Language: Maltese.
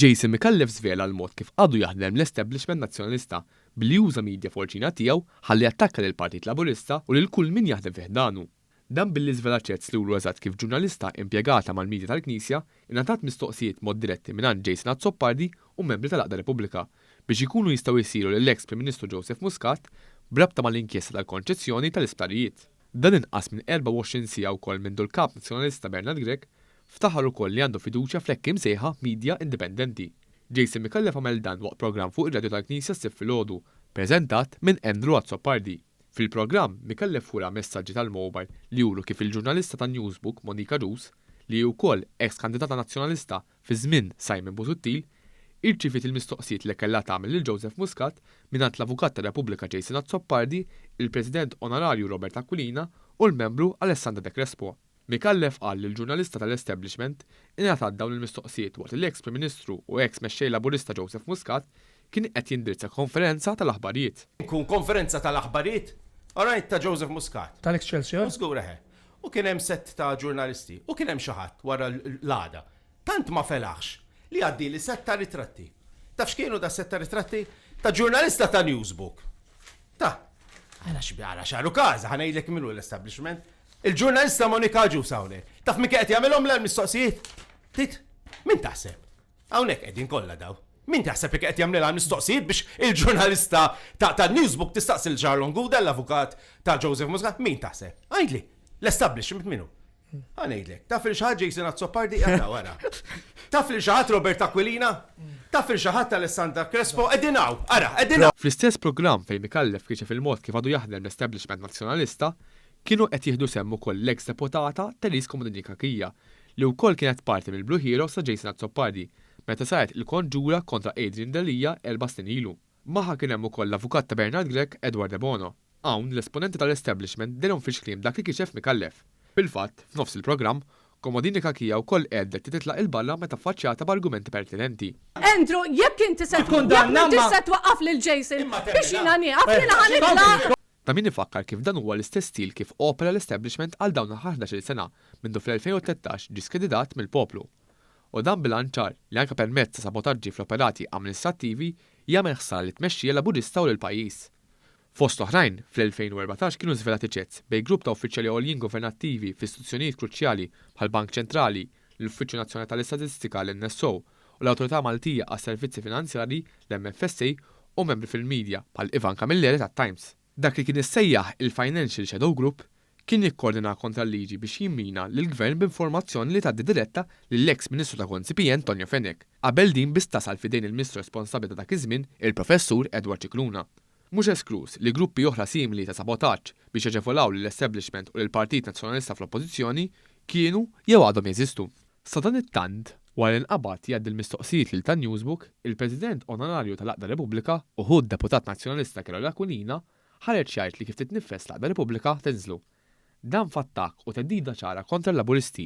Jason Micallef żvela l-mod kif għadu jaħdem l-establishment Nazzjonalista billi uża media forċina tiegħu ħalli jattakka lill-Partit Laburista u lil kull min jaħdem fi ħdanu. Dan billi żvelat ċert sluru eżatt kif ġurnalista impjegata mal-midja tal-Knisja ingħatat mistoqsijiet mod diretti mingħand Jason Azzopardi u membri tal-Għaqda Repubblika biex ikunu jistgħu jsiru lill-eks Prim Ministru Joseph Muscat b'rabta mal-inkjesta tal-konċezzjoni tal-isptarijiet. Dan inqas minn 24 siegħa wkoll mindu l-Kap Nazzjonalista Bernard Grech ftaħar ukoll li għandu fiduċja fl-hekk imsejħa midja indipendenti. Jason Micallef għamel dan waqt programm fuq ir-radju tal-Knisja s-Sibt filgħodu, preżentat minn Andrew Azzopardi. Fil-programm, Mikellef wera messaġġi tal-mowbajl li juru kif il-ġurnalista ta' Newsbook, Monica Duz, li hi wkoll eks kandidata Nazzjonalista fi żmien Simon Busuttil, irċiviet il-mistoqsijiet li kellha tagħmel lil Joseph Muscat mingħand l-Avukat tar-Repubblika Jason Azzopardi, il-President Onorarju Robert Aquilina u l-Membru Alessandra De Crespo. Micallef qal li l-ġurnalista tal-establishment ingħatat dawn il-mistoqsijiet waqt li eks Prim Ministru u eks Mexxej Laburista Joseph Muscat kien qed jindirizza konferenza tal-aħbarijiet. Tkun konferenza tal-aħbarijiet? Alright, ta' Joseph Muscat. Tal-Excelsior? Żgur, eħe. U kien hemm sett ta' ġurnalisti. U kien hemm xi ħadd wara l-għada. Tant ma felaħx li għaddieli sett ta' ritratti. Taf x'kienu das-sett ta' ritratti? Ta' ġurnalista ta' Newsbook. Ta. Għala x'bi għala x'għalu każa, ħa ngħidlek min hu l-establishment. Il-ġurnalista Monika Agius hawnhekk. Taf min kien qed jagħmilhomlha l-mistoqsijiet? Tgħid? Min taħseb? Hawnhekk qegħdin kollha daw. Min taħseb li kien qed jagħmlilha l-mistoqsijiet biex il-ġurnalista ta' tan-Newsbook tistaqsi lil Charlon Gouda, l-avukat ta' Joseph Muscat? Min taħseb? Għidli. L-establishment min hu? Ħa ngħidlek. Taf lil xi ħadd Jason Azzopardi qiegħed hawn ara. Taf lil xi ħadd Robert Aquilina? Taf lil xi ħadd Alessandra Crespo qegħdin hawn, ara, qegħdin hawn. Fl-istess programm fejn Micallef kixef il-mod kif għadu jaħdem l-establishment Nazzjonalista, Kienu qed jieħdu sehem ukoll l-eks deputata Therese Comodini Cachia, li wkoll kienet parti mill-Blue Heroes ta' Jason Azzopardi, meta saret il-konġura kontra Adrian Delia erba' snin ilu. Magħha kien hemm ukoll l-avukat ta' Bernard Grech, Edward Debono. Hawn, l-esponenti tal-establishment dehrom fix-xkliem dak li kixef Micallef. Fil-fatt, f'nofs il-programm, Comodini Cachia wkoll qegħdet li titlaq 'il barra meta ffaċċjata b'argumenti pertinenti. Andrew, jekk inti se tkun, jekk m'intix se twaqqaf lil Jason, biex jiena nieqaf, jiena ħa nitlaq! Ta' min ifakkar kif dan huwa l-istess stil kif opera l-establishment għal dawn l-aħħar ħdax-il sena mindu fl-2013 ġie skreditat mill-poplu. U dan bl-għan ċar li anke permezz ta' sabotaġġi fl-operati amministrattivi jagħmel ħsara lit-tmexxija Laburista u lill-pajjiż. Fost l-oħrajn, fl-2014 kienu żvelati chats bejn grupp ta' uffiċjali għoljin governattivi f'istituzzjonijiet kruċjali bħall-Bank Ċentrali, l-Uffiċċju Nazzjonali tal-Istatistika, l-NSO, u l-Awtorità Maltija għas-Servizzi Finanzjarji, l-MFSA, u membri fil-midja, bħal Ivan Camilleri tat-Times. Dak li kien issejjaħ il-Financial Shadow Group kien jikkoordina kontra l-liġi biex jimmina lill-Gvern b'informazzjoni li tgħaddi diretta lill-eks Ministru ta' Konsipjent Tonio Fenech, qabel din biss tasal f'idejn il-Ministru responsabbli ta' dak iż-żmien, il-Professur Edward Scicluna. Mhux eskluż li gruppi oħra simili ta' sabotaġġ biex jaġevolaw lill-establishment u lill-Partit Nazzjonalista fl-Oppożizzjoni kienu jew għadhom jeżistu. Sadanittant, wara li nqabad jgħaddi l-mistoqsijiet lil ta' Newsbook, il-President Onorarju tal-Għaqda Repubblika u ħu d-Deputat Nazzjonalista Carole Aquilina ħareġ jgħid li kif titniffes l-Għaqda Repubblika tinżlu. Dan f'attakk u theddida ċara kontra l-Laburisti.